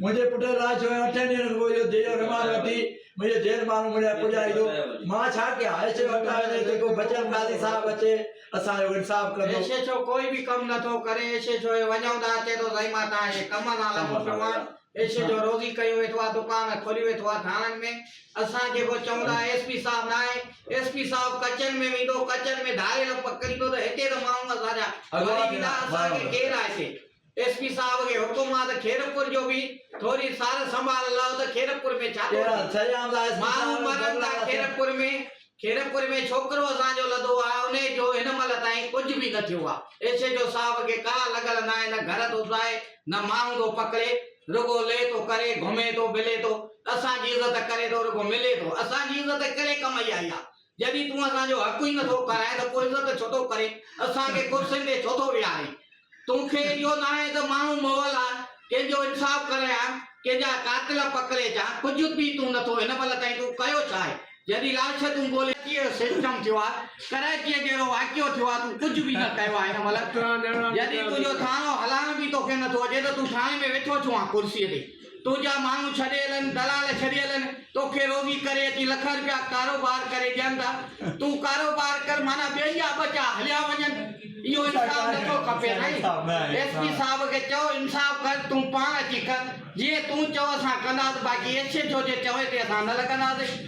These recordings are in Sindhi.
منهنجي پٽ الاء ڇو اٺن ڏينهن کان پوء اهو ديلو رمال وٺي منهنجي دير ماڻهو مون ڏانهن پڄائي ٿو. مان ڇا ڪيان؟ اهي ڇو اٽا وڃي ته ڪو بچل قاضي صاحب اچي اسان جو انصاف ڪندو. اهي ڇو ڪوئي به ڪم نه ٿو ڪري؟ اهي ڇو اهي وڃون ته اچي ٿو زئي مان تان اهي ڪم مان لڳو پيو آهيان. اهي ڇو روزي ڪيون ويٺو آهي دڪان کولي ويٺو آهي ٿاڻن ۾. اسان جيڪو چئون ٿا اهي ايس پي صاحب نه آهي. ايس پي صاحب ڪچن ۾ ويندو ڪچن ۾ ڌاري لپ ڪريندو ته هتي ته ماڻهو اسان جا مري ويندا اسان کي ڪير آهي سي. ايس پي صاحب کي حڪم آ ته خيرپور جو به ٿوري سار سنڀال لئو ته خيرپور ۾ ڇا ٿو ٿئي؟ ماڻهو مرن ٿا خيرپور ۾، خيرپور ۾ ڇوڪرو اسان جو لڌو آ انهي جو هن مهل تائين ڪجهه به نه ٿيو آ، ايس ايڇ او صاحب کي ڪا لڳل ناهي نه گهر ٿو ساهي نه ماڻهو ٿو پڪڙي رڳو لي ٿو ڪري گهمي ٿو ملي ٿو اسان جي عزت ڪري ٿو رڳو ملي ٿو اسان جي عزت ڪهڙي ڪم جي آئي آ جڏهن تون اسان جو حق ئي نٿو کرائين ته پوء عزت ڇو ٿو ڪرين؟ اسان کي ڪرسين تي ڇو ٿو ويهارين؟ تون کي اهو ناهي ته ماڻهو مئل آهن، ڪنهن جو انصاف ڪرين ها ڪنهن جا قاتل پڪڙي اچان؟ ڪجهه به تون نٿو، هن مهل تائين تون ڪيو ڇا آهي؟ جڏهن لاش تون ڳولي. ڪراچيء جو سسٽم ٿيو آهي، ڪراچيء جهڙو واقعو ٿيو آهي، تون ڪجهه به نه ڪيو آهي هن مهل، جڏهن تنهنجو ٿاڻو هلائڻ به توکي نٿو اچي ته تون ٿاڻي ۾ ويٺو ڇو آهين ڪرسيء تي؟ تنهنجا ماڻهو ڇڏي هلن، دلال ڇڏي هلن، توکي روزي ڪري اچي لکن رپيا ڪاروبار ڪري ڏين ٿا. تون ڪاروبار ڪر معنيٰ ٻين جا ٻچا هليا وڃن. اهو انصاف نٿو کپي سائين. ايس پي صاحب کي چئو انصاف ڪر تون پاڻ اچي ڪر. جيئن تون چئو اسان ڪنداسين باقي ايڇ ايڇ او جي چوڻي تي اسان نه لڳنداسين.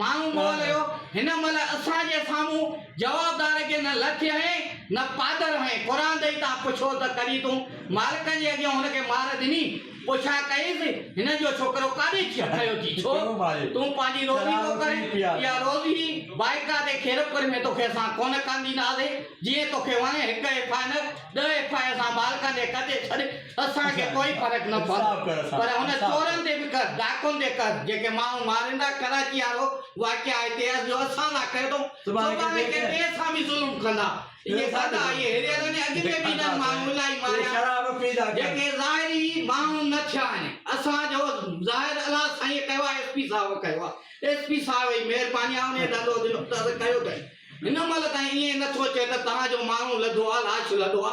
ماڻهو مئل هيو، هن مئل اسان جي سامهون جوابدار کي نه لڇ هنئين نه پادر هنئين، قرآن ڏئي تان پڇو ته ڪڏهن تون مالڪ جي اڳيان هن کي مار ڏني؟ پڇا ڪئيس، هن جو ڇوڪرو ڪاڏي کيو ٿي؟ ڇو تون پنهنجي روزي ٿو ڪرين؟ اها روزي بائڪا تي کيرپور ۾ توکي اسان ڪونه ڪانديناسين، جيئن توکي وڻي هڪ ايف آء نه. ڏهه ايف آء آر سان مالڪن کي ڪڍي ڇڏ اسان کي ڪوئي فرق نه پوندو پر هن چورن تي به ڪر ڊاڪون تي ڪر جيڪي ماڻهو مارين ٿا ڪراچي وارو واقعا هتي اڄ جو اسان سان ڪيو اٿئون سڀاڻي ڪنهن ٻئي سان به ظلم ڪندا اهي گدا اهي هيريئر ۾ اڳ ۾ به انهن ماڻهن الائي ماريا جيڪي ظاهري ماڻهو نه ٿيا آهن اسان جو ظاهر الله سائينء ڪيو آهي ايس پي صاحب ڪيو آهي ايس پي صاحب جي مهرباني آهي انهي ڏندو ڏنو ته ڪيو اٿئي هن مهل تائين ائين نه ٿو اچي ته توهان جو ماڻهو لڌو آ، لاش لڌو آ،